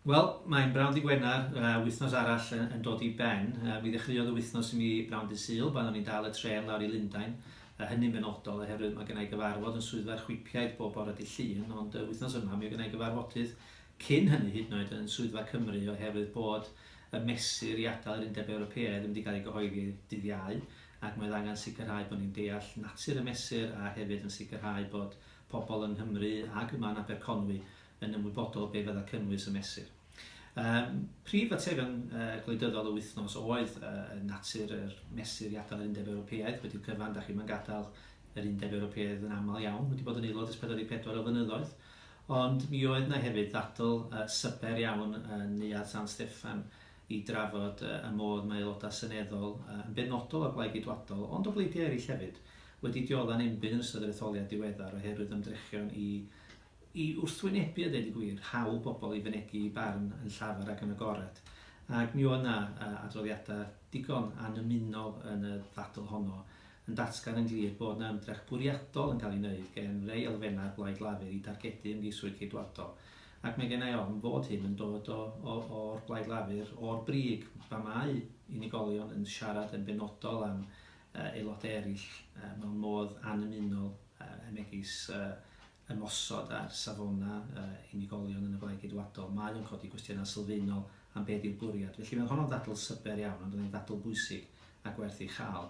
Wel, mae'n bnawn Dydd Gwener, wythnos arall yn dod i ben. Mi ddechreuodd y wythnos i mi bnawn Dydd Sul, pan o'n i'n dal y trên lawr i Lundain, hynny'n benodol oherwydd mae gennai gyfarfod yn Swyddfa'r Chwipiaid bob bore Dydd Llun, ond wythnos yma mi oedd gennai gyfarfodydd cyn hynny hyd yn oed yn Swyddfa Cymru oherwydd bod y mesur i adael yr Undeb Ewropeaidd ddim wedi cael ei gyhoeddi Dydd Iau ac mi oedd angen sicrhau bod ni'n deall natur y mesur a hefyd yn sicrhau bod pobl yng Nghymru ac yma yn Aberconwy yn ymwybodol o be fydda cynnwys y mesur. Um, prif faterion uh, gwleidyddol y wythnos oedd uh, natur yr mesur i adael yr Undeb Ewropeaidd wedi'w cyfan, da chi'n mynd gadael yr Undeb Ewropeaidd yn aml iawn, wedi bod yn aelod ys 44 o fynyddoedd, ond mi oedd yna hefyd ddadl uh, syber iawn yn Neuad San Steffan i drafod uh, y modd mae aelodau seneddol uh, yn benodol o Blaid Geidwadol, ond o bleidiau eraill hefyd, wedi diodda'n enbyd yn ystod yr etholiad diweddar oherwydd ymdrechion i I wrthwynebu a deud y gwir, hawl pobl i fynegi eu barn yn llafar ac yn agored, ac mi oedd 'na adroddiadau digon annymunol yn y ddadl honno yn datgan yn glir bod 'na ymdrech bwriadol yn cael ei wneud gen rei elfennau'r Blaid Lafur i dargedu ymgeiswyr Ceidwadol, ac mae gennai ofn fod hyn yn dod o o o'r Blaid Lafur, o'r brig pan mae unigolion yn siarad yn benodol am aelodau eraill mewn modd annymunol megis ymosod ar safonau unigolion yn y Blaid Geidwadol, mae o'n codi cwestiynau sylfaenol am beth yw'r bwriad. Felly, mae honno'n ddadl syber iawn, ond mae'n ddadl bwysig a gwerth ei chael.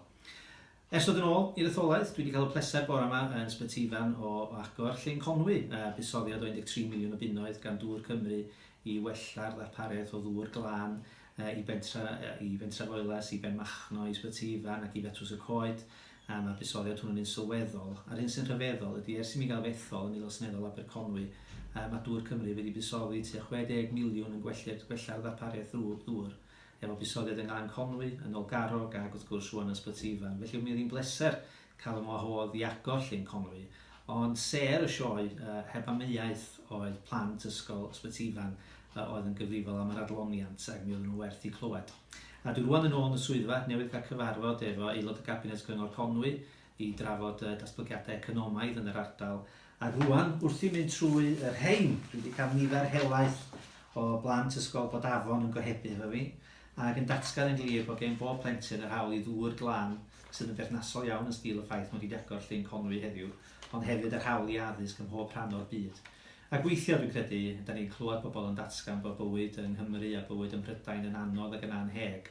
Ers dod yn ôl i'r etholaeth, dwi wedi cael y pleser bore yma yn Sbyty Ifan o agor Llên Conwy, a buddsoddiad o 13 miliwn o bunnoedd gan Dŵr Cymru i wella'r ddarpariaeth o ddŵr glân i bentre, i Fentrefoelas, i Benmachno, i Sbyty Ifan ac i Fetws y Coed. am y buddsoddiad hwnnw yn un sylweddol, a'r hyn sy'n rhyfeddol ydy, ers i mi gael fy ethol yn Aelod Seneddol Aberconwy, yy, mae dŵr Cymru wedi buddsoddi tua 60 miliwn yn gwellid- gwella'r ddarpariaeth ddŵ- ddŵr, efo buddsoddiad yng Nglan Conwy, yn Nolgarrog, ag, wrth gwrs, rŵan yn Ysbyty Ifan. Felly, mi oedd hi'n bleser cael fy ngwahodd i agor Llyn Conwy, ond sêr y sioe, yy, heb amheuaeth, oedd plant Ysgol Ysbyty Ifan, yy, oedd yn gyfrifol am yr adloniant, ac mi oedden nhw'n werth eu clywed. A dwi rŵan yn ôl yn y swyddfa, newydd cael cyfarfod efo Aelod y Cabinet Cyngor Conwy i drafod y datblygiadau economaidd yn yr ardal. A rŵan, wrth i mynd trwy y rhein, dwi wedi cael nifer helaeth o blant Ysgol Bodafon yn gohebu efo fi, ac yn datgan yn glir bod gen bob plentyn yr hawl i ddŵr glan sydd yn berthnasol iawn yn sgil y ffaith mod i wedi agor llyn Conwy heddiw. ond hefyd yr hawl i addysg ym mhob rhan o'r byd. Ac weithiau, dwi'n credu, dan ni'n clywed pobl yn datgan bod bywyd yng Nghymru a bywyd ym Mhrydain yn anodd ac yn annheg,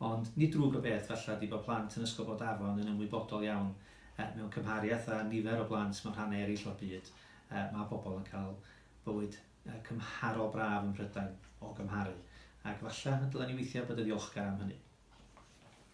ond nid drwg o beth, falle, ydy bod plant yn Ysgol Bodafon yn ymwybodol iawn, mewn cymhariaeth â nifer o blant mewn rhannau eraill o'r byd, mae pobl yn cael bywyd cymharol braf ym Mhrydain, o gymharu, ac falle y dylen ni weithiau bod yn ddiolchgar am hynny.